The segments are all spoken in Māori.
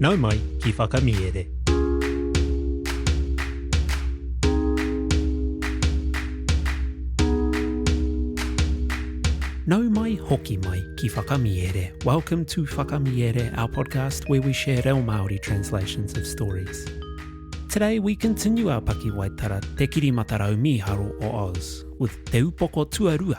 Nau mai ki Whakamiere. Nau mai, hoki mai ki Whakamiere. Welcome to Whakamiere, our podcast where we share reo Māori translations of stories. Today we continue our Pakiwaitara Te Kirimata Rau Mīharo o Oz with Te Upoko Tuarua,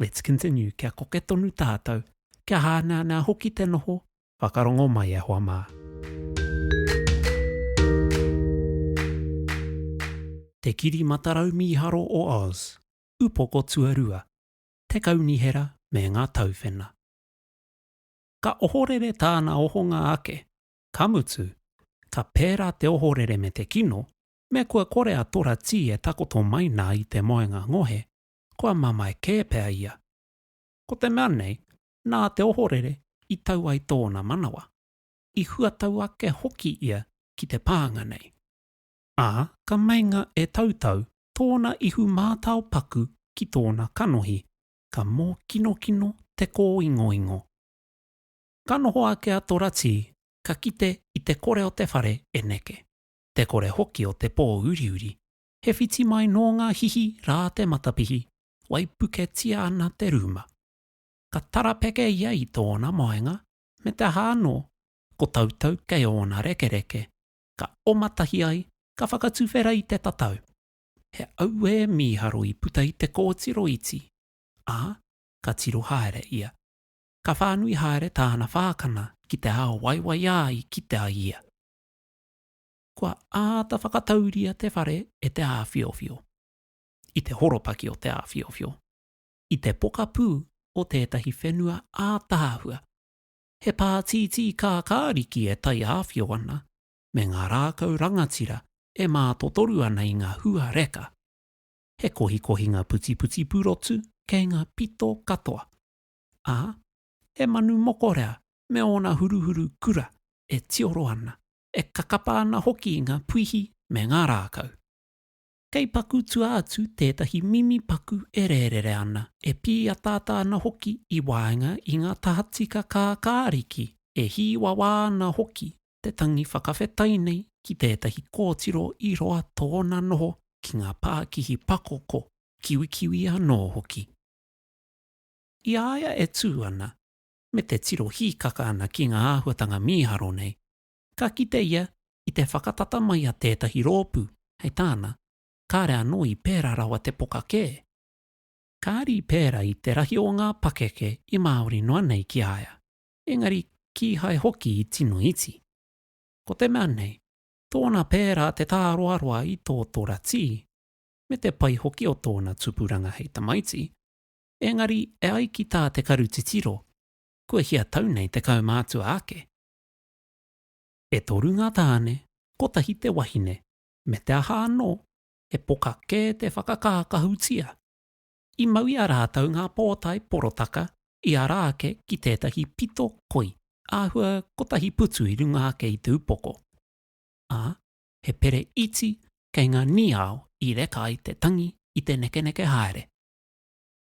Let's continue kia koke tonu tātou, kia hānānā hoki te noho, whakarongo mai e hoa mā. Te Kiri Matarau Mīharo o Oz, Upoko Tuarua, Te Kaunihera me ngā Tauwhena. Ka ohorere tāna ohonga ake, ka mutu, ka pērā te ohorere me te kino, me kua kore a Tora Tī e takoto mai nā i te moenga ngohe, kua mamae kē pea ia. Ko te mea nei, nā te ohorere i tau ai tōna manawa, i huatau ake hoki ia ki te pānga nei, ā, ka meinga e tautau tōna ihu mātao paku ki tōna kanohi, ka mōkinokino te kōingoingo. Ka noho ake a Toratī, ka kite i te kore o te whare e neke, te kore hoki o te pō uriuri, He whiti mai nō ngā hihi rā te matapihi, waipuketia ana te rūma. Ka tarapeke ia i tōna maenga, me te aha anō, ko Tautau kei ōna rekereke, ka oma tahi ai, ka whakatuwhera i te tatau. He auē mīharo i puta i te kōtiro iti, ā, ka tiro haere ia. Ka whānui haere tāna whākana ki te ao waiwaiā i kite ai ia. kua āta whakatauria te whare e te āwhiowhio, i te horopaki o te āwhiowhio, i te pokapū o tētahi whenua ātaahua. He pātītī kākāriki e taiāwhio ana me ngā rākau rangatira e mātotoru ana i ngā hua reka. He kohikohinga putiputi purotu kei ngā pito katoa, ā, he manu mokorea me ōna huruhuru kura e tioro ana e kakapa ana hoki ngā puihi me ngā rākau. Kei paku tua atu tētahi mimi paku e rērere ana, e pīataata ana hoki i waenga i ngā tahatika kākāriki, e hīwawā ana hoki te tangi whakawhetai nei ki tētahi kōtiro i roa tōna noho ki ngā pākihi pakoko, kiwikiwi anō hoki. I a ia e tū ana, me te tiro hīkaka ana ki ngā āhuatanga mīharo nei, ka kite ia i te whakatata mai a tētahi rōpū, hei tāna, kāre anō i pērā rawa te poka kē. Kāre i pērā i te rahi o ngā pakeke i Māori noa nei ki a ia, engari kīhai hoki i tino iti. Ko te mea nei, tōna pērā te tāroaroa i tō Tora Tī, me te pai hoki o tōna tupuranga hei tamaiti, engari e ai ki tā te karu titiro, kua hia tau nei te kaumātua ake. E toru ngā tāne, kotahi te wahine, me te aha anō, he poka kē te whakakākahutia. I mau i a rātou ngā pōtae porotaka i ara ake ki tētahi pito koi āhua kotahi putu i runga ake i te upoko, ā, he pere iti kei ngā niao i reka ai te tangi i te nekeneke haere.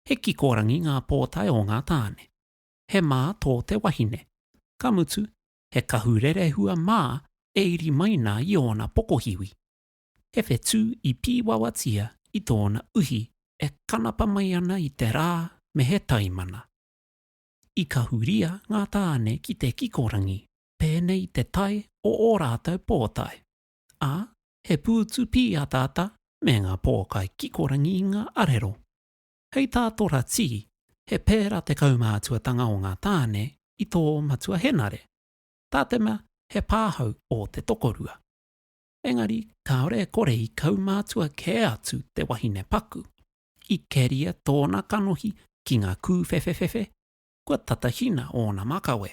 He kikorangi ngā pōtae o ngā tāne. He mā tō te wahine. Ka mutu, he kahu rerehua mā e iri mai nā i ōna pokohiwi. He whetū i pīwawatia i tōna uhi e kanapa mai ana i te rā me he taimana. I kahuria ngā tāne ki te kikorangi pēnei te tae o ō rātou pōtae. ā, he pūtu pīataata me ngā pōkai kikorangi i ngā arero. Hei tā Tora Tī, he pērā te kaumātuatanga o ngā tāne i tō matua henare, tā te mea he pāhau ō te tokorua. Engari kāore e kore i kaumātua kē atu te wahine paku, i keria tōna kanohi ki ngā kūwhewhewhewhe, kua tatahina ōna makawe.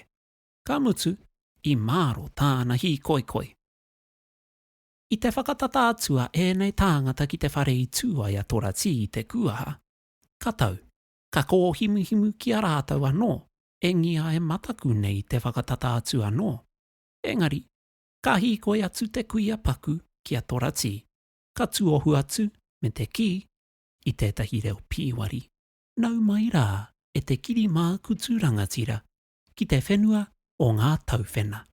Ka mutu, i mārō tāna hīkoikoi. I te whakatata atu a ēnei tāngata ki te whare i tū ai a Toratī i te kūaha, ka tau, ka kōhimuhimu ki a rātou anō, e ngia e mataku nei te whakatata atu anō. Engari, ka hīkoi atu te kuia paku ki a Toratī, ka tuohu atu me te kī, i tētahi reo pīwari, Nau mai rā e te kiri mākutu rangatira, ki te whenua o ngā tauwhena.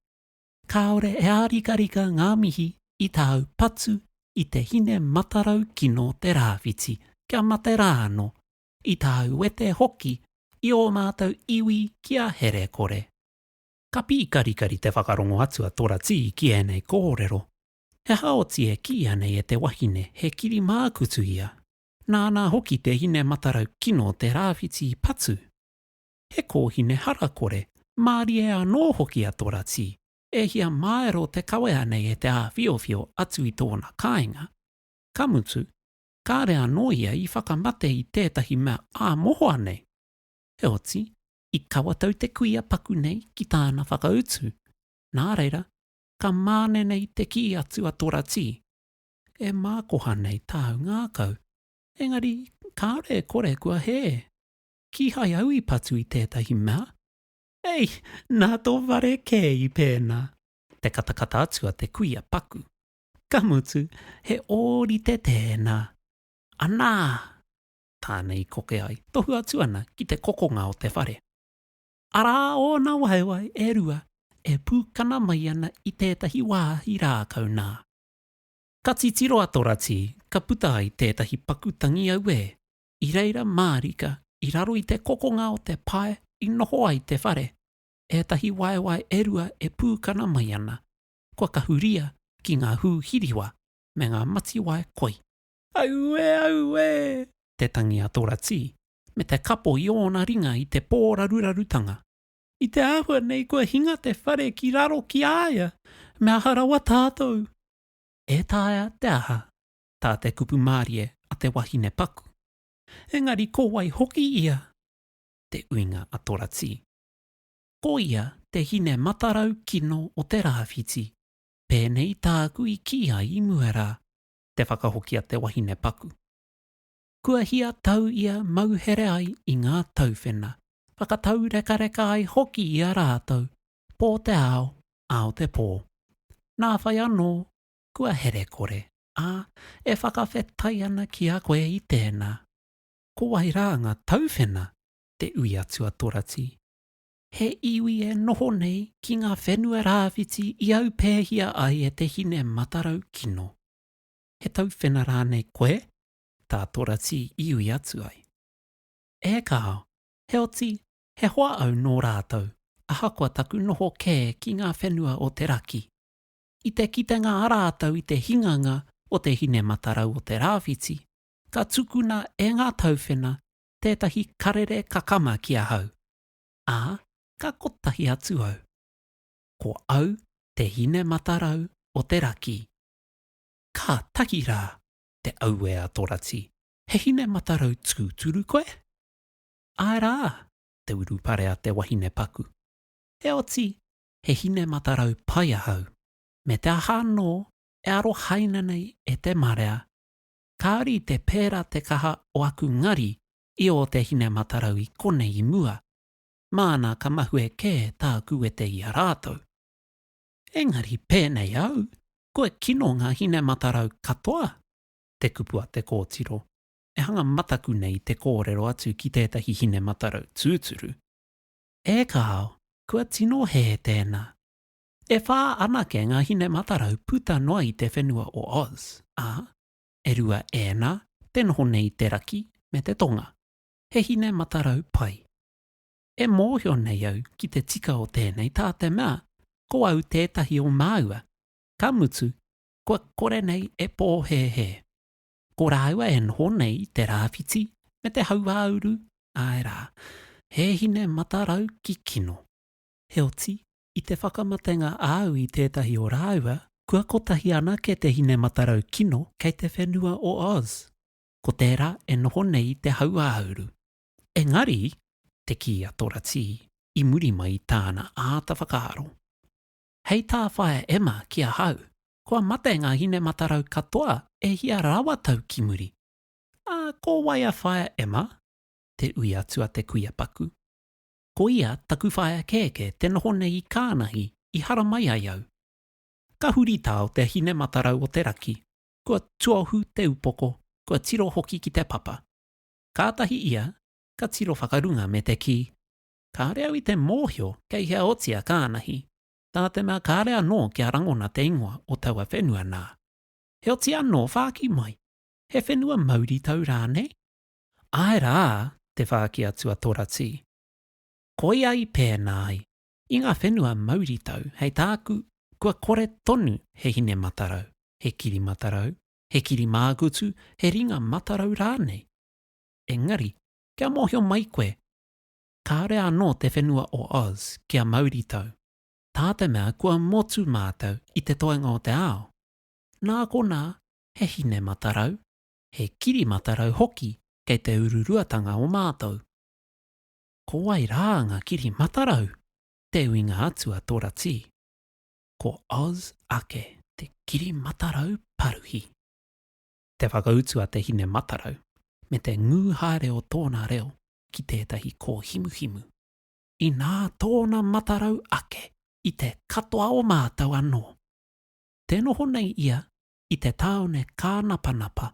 Kāore e ārikarika ngā mihi i tāu patu i te hine matarau kino te rāwhiti, kia mate rā anō, i tāu wete hoki i ō mātou iwi ki a Herekore. Ka pīkarikari te whakarongo atu a Toratī ki ēnei kōrero, He aha oti e kīia nei e te wahine he kirimākutu ia, nāna hoki te hine matarau kino te rāwhiti patu? he kōhine harakore, mārie anō hoki a Toratī, e hia māero te kawea nei e te āwhiowhio atu i tōna kāinga. Ka mutu, kāre anō ia i whakamate i tētahi mea ā mohoa nei. Heoti, i kawa tau te kuia paku nei ki tāna whakautu, nā reira, ka māne nei te kī atu a Toratī, E mākoha nei tāu ngākau, engari kāore e kore kua hē. Kīhai au i patu i tētahi mea. Hei! Nā tō whare kē i pēnā! Te katakata atu a te kuia paku. Ka mutu, he ōrite tēnā. Anā! Tāna i koke ai, tohu atu ana ki te kokonga o te whare. Arā ōna waewae e rua e pūkana mai ana i tētahi wāhi rākau nā. Ka titiro a Toratī, ka puta ai tētahi paku tangi auē. i reira mārika i raro i te kokonga o te pae i noho ai te whare, ētahi waewae e rua e pūkana mai ana, kua kahuria ki ngā hū hiriwa me ngā matiwae koi. Aue! Aue! te tangi a Toratī, me te kapo i ōna ringa i te pō rarurarutanga. I te āhua nei kua hinga te whare ki raro ki a ia, me aha rawa tātou? E taea te aha? tā te kupu mārie a te wahine paku, engari ko wai hoki ia? Te uinga a Toratī. Ko ia te hine matarau kino o te rāwhiti, pēnei tāku i kī ai i mua rā, te whakahoki a te wahine paku. Kua hia tau ia mauhere ai i ngā tauwhena, whakataurekareka ai hoki i a rātou, pō te ao, ao te pō. Nā whai anō, kua herekore, ā, e whakawhetai ana ki a koe i tēnā, ko wai rā ngā tauwhena te ui atu a Torati, he iwi e noho nei ki ngā whenua rāwhiti i aupēhia ai e te hine matarau kino. He tauwhena rānei koe, tā Torati i ui atu ai? E kāo, heoti, he hoa au nō rātou, ahakoa taku noho kē ki ngā whenua o te raki. I te kitenga a rātou i te hinganga o te hine matarau o te rāwhiti, ka tukuna e ngā tauwhena tētahi karere kakama ki ahau, ā, ka kotahi atu au. Ko au te hine matarau o te rakī. Kātahi rā, te auē a Torati, he hine matarau tūturu koe? Āe rā, te urupare a te wahine paku. Heoti, he hine matarau pai ahau. Me te aha anō, e arohaina nei e te marea, kāore i te pērā te kaha o aku ngari i ō te hine matarau i konei i mua, māna ka mahue kē tāku wete i a rātou. Engari pēnei au, kua kino ngā hine matarau katoa, te kupu a te kōtiro, e hanga mataku nei i te kōrero atu ki tētahi hine matarau tūturu. E kāo, kua tino hē tēnā. E whā anake ngā hine matarau puta noa i te whenua o Oz, ā, e rua ēnā, te noho nei i te raki me te tonga. He hine matarau pai. E mōhio nei au ki te tika o tēnei tā te mea ko au tētahi o māua, ka mutu, kua kore nei e pōhēhē. Ko rāua e noho nei i te rāwhiti me te hauāuru, āe rā, he hine matarau ki kino. Heoti, i te whakamatenga āu i tētahi o rāua, kua kotahi anake te hine matarau kino kei te whenua o Oz. Ko tērā e noho nei i te hauāuru. Engari, te kī a Toratī, i muri mai i tāna āta whakaaro, Hei tā Whaea Emma ki ahau, Kua mate ngā hine-matarau katoa e hia rawa tau ki muri. Ā, ko wai a Whaea Emma? Te ui atu a te kuia paku. Ko ia taku whaea kēkē te noho nei i Kānahi i haramai ai au. Ka huri tā o te hine-matarau o te raki, kua tuohu te upoko, kua tiro hoki ki te papa. Kātahi ia ka tiro whakarunga me te kī, Kāore au i te mōhio kei hea otia ka anahi, tā te mea kāore anō kia rangona te ingoa o taua whenua nā. Heoti anō whāki mai, he whenua mauritau rānei? Āe rā, te whāki atu a Toratī. Koia i pēnā ai, i ngā whenua mauritau hei tāku kua kore tonu he hine matarau, he kiri matarau, he kiri māgutu, he ringa matarau rānei. Engari, kia mōhio mai koe, Kāore anō te whenua o Oz kia mauritau, tā te mea kua motu mātou i te toenga o te ao. Nā konā, he hine matarau, he kiri matarau hoki kei te ururuatanga o mātou. Ko wai rā ngā kiri matarau? Te uinga atu a Toratī. Ko Oz ake. Te kiri matarau paruhi. Te whakautu a Te Hine Matarau me te ngū haere o tōna reo ki tētahi kōhimuhimu. Inā tōna matarau ake i te katoa o mātou anō. Tē noho nei ia i te tāone kānapanapa.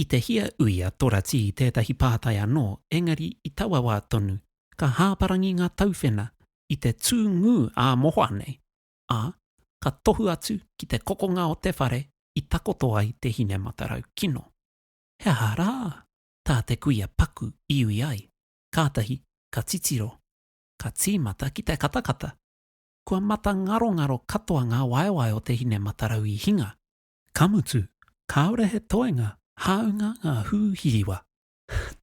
I te hia ui a Toratī tētahi pātai anō engari i taua wā tonu ka hāparangi ngā tauwhena i te tū ngū ā-mohoa nei ā, ka tohu atu ki te kokonga o te whare i takoto ai te hine matarau kino. He aha rā tā te kuia paku iwi ai, kātahi ka titiro, ka tīmata ki te katakata. Kua matangarongaro katoa ngā waewae o te hine matarau i hinga, ka mutu kāore he toenga hāunga ngā hū hiriwa.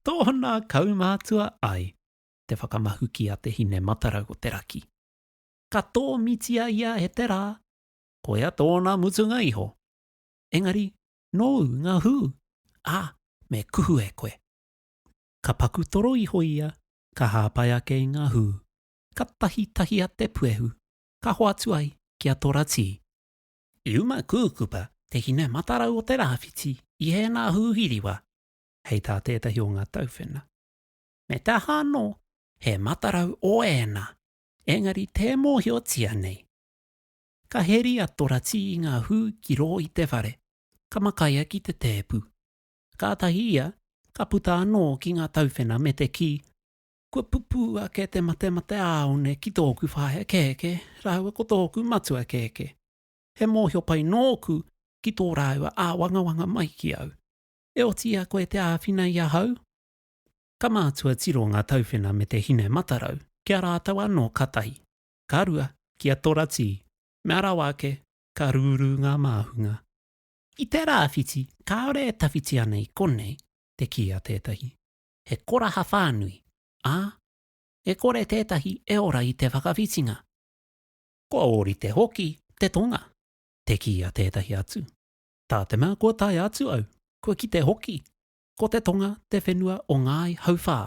Tōna kaumātua ai te whakamahuki a te hine matarau o te raki. ka tōmitia ia e te rā, koia tōna mutunga iho. Engari, nōu ngā hū, ā, me kuhu e koe. Ka paku toro iho ia, ka hāpai ake i ngā hū, ka tahitahia te puehu, ka hoatu ai ki a Toratī. I uma kūkupa te hine matarau o te rāwhiti i ēnā hū hiriwa, hei tā tētahi o ngā tauwhena, Me te aha anō, he matarau o ēnā, Engari tē mōhiotia nei. Ka heri a Toratī i ngā hū ki rō i te whare, ka makaia ki te tēpu. Kātahi ia ka puta anō ki ngā tauwhena me te kī, Kua pupū ake te matemate āone ki tōku whaea kēkē rāua ko tōku matua kēkē. He mōhio pai nōku ki tō rāua āwangawanga mai ki au. E oti ia koe te āwhina i ahau? Ka mātua tiro ngā tauwhena me te hine matarau ki a rātou anō ka tahi, ka rua, ki a Toratī, mea rawa ake, ka rūrū ngā māhunga. I te rāwhiti kāore e tawhiti ana i konei te kī a tētahi, he koraha whānui, ā, e kore tētahi e ora i te whakawhitinga. Kua ōrite hoki te tonga, te kī a tētahi atu. Tā te mea kua tae atu au, kua kite hoki, Ko te tonga te whenua o Ngāi Hauwhā.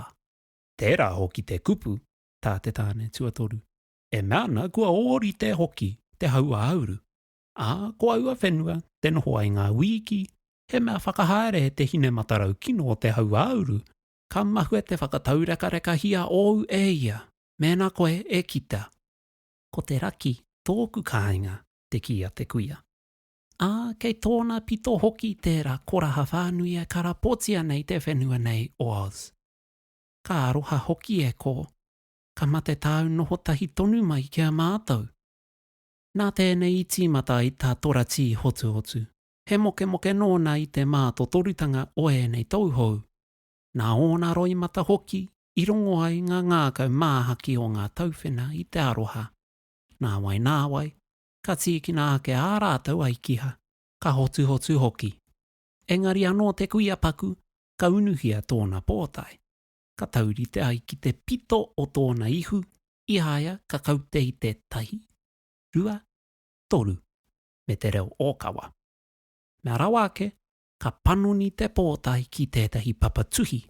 Tērā hoki te kupu tā te tāne tuatoru, e mea ana kua ōrite hoki te hau-ā-uru, ā, ko aua whenua te noho ai ngā wīki, he mea whakahaere e te hine matarau kino o te hau-ā-uru, ka mahue te whakataurekarekahiā ōu e ia, mēnā koe e kita. Ko te raki tōku kāinga, te kī a te kuia. ā, kei tōna pito hoki tērā koraha whānui e karapotia nei te whenua nei o Oz. Ka aroha hoki e kō, ka mate tāu noho tahi tonu mai ki a mātou. Nā tēnei i tīmata ai tā Toratī Hotuhotu, he mokemoke nōna i te mātotorutanga o ēnei tauhou, nā ōna roimata hoki i rongo ai ngā ngākau māhaki o ngā tauwhena i te aroha. Nāwai nāwai, ka tīkina ake ā rātou ai kiha, ka hotuhotu hoki. Engari anō te kuia paku, ka unuhia tōna pōtae, ka taurite ai ki te pito o tōna ihu, i a ia ka kaute i te tahi, rua, toru, me te reo ōkawa. Mea rawa ake, ka panoni te pōtae ki tētahi papa tuhi,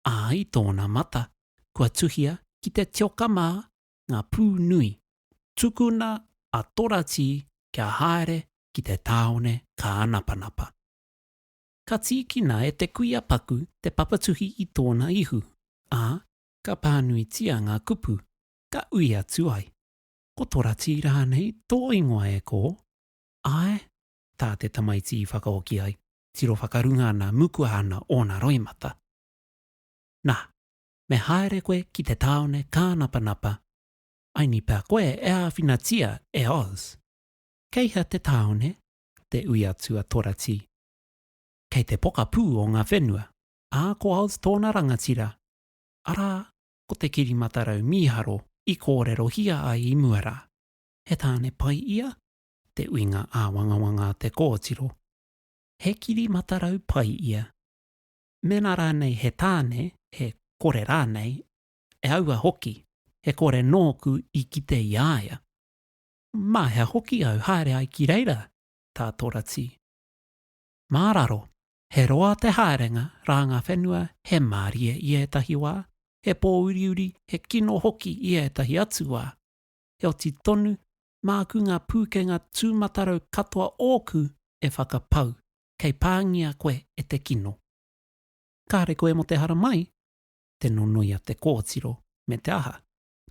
ā, i tōna mata, kua tuhia ki te tioka mā, ngā pū nui, tukuna a Toratī kia haere ki te tāone kānapanapa. Ka tīkina e te kuia paku te papatuhi i tōna ihu, ā, ka pānuitia ngā kupu, ka ui atu ai, Ko Toratī rānei tō ingoa e kō? Āe, tā te tamaiti i whakaoki ai, tiro whakarunga ana, mukua ana ōna roimata. Nā, me haere koe ki te tāone kānapanapa, I ni pea koe e āwhinatia e Oz. Kei hea te tāone? te ui atu a Toratī. Kei te pokapū o ngā whenua, ā, ko Oz tōna rangatira, arā, ko te kirimatarau mīharo i kōrerohia ai i mua rā. He tāne pai ia? te ui ngā āwangawanga a te kōtiro. He kirimatarau pai ia. mēnā rānei he tāne, he kore rānei, e aua hoki, he kore nōku i kite i a ia. Mā hea hoki au haere ai ki reira, tā Toratī? Mā raro, he roa te haerenga rā ngā whenua, he mārie i ētahi wā, he pōuriuri, he kino hoki i ētahi atu wā. Heoti tonu, māku ngā pūkenga tūmatarau katoa ōku e whakapau, kei pāngia koe e te kino. Kāre koe mō te haramai, te nonoia te kōtiro, me te aha.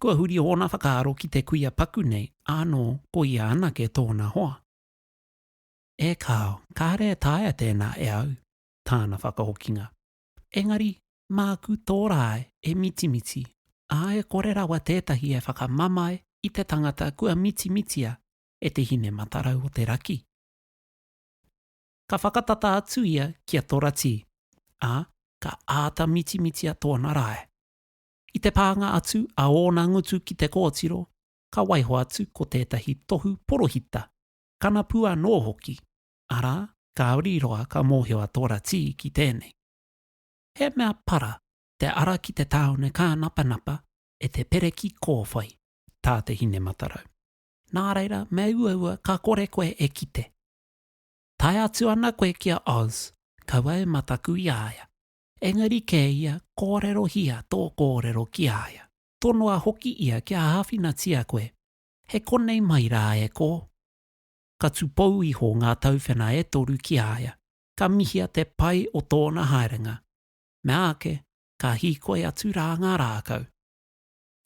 Kua huri ōna whakaaro ki te kuia paku nei ānō ko ia anake tōna hoa. E kāo, kāre e taea tēnā e au, tāna whakahokinga. Engari, māku tō rae e mitimiti, ā, e kore rawa tētahi e whakamamae i te tangata kua mitimitia e te hine matarau o te raki. Ka whakatata atu ia ki a Toratī, ā, ka āta mitimitia tōna rae. I te pānga atu a ōna ngutu ki te kōtiro, ka waiho atu ko tētahi tohu porohita, kanapu anō hoki, arā, kāori roa ka mōhio a Toratī ki tēnei. He mea para te ara ki te tāone kānapanapa e te pereki kōwhai, tā te Hine-matarau. Nā reira, me uaua, ka kore koe e kite. Tae atu ana koe ki a Oz, kaua e mataku i a ia. Engari kē ia, kōrerohia tō kōrero ki a ia. Tonoa hoki ia kia āwhinatia koe, he konei mai rā e kō. Ka tūpou iho ngā tauwhena e toru ki a ia, ka mihia te pai o tōna haerenga. Meāke, ka hīkoi atu rā ngā rākau.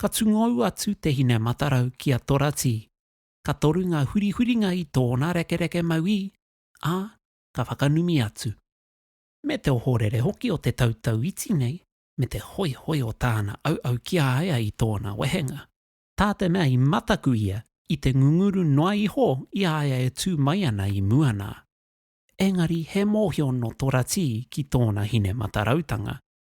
Ka tungou atu te hine matarau ki a Toratī. Ka toru ngā hurihuringa i tōna rekereke mauī, ā, ka whakanumi atu. Me te ohorere hoki o te tautau iti nei, me te hoihoi o tāna auau ki a ia i tōna wehenga. Tā te mea i mataku ia i te ngunguru noa iho i a ia e tū mai ana i mua nā. Engari he mōhio nō Toratī ki tōna hine matarautanga,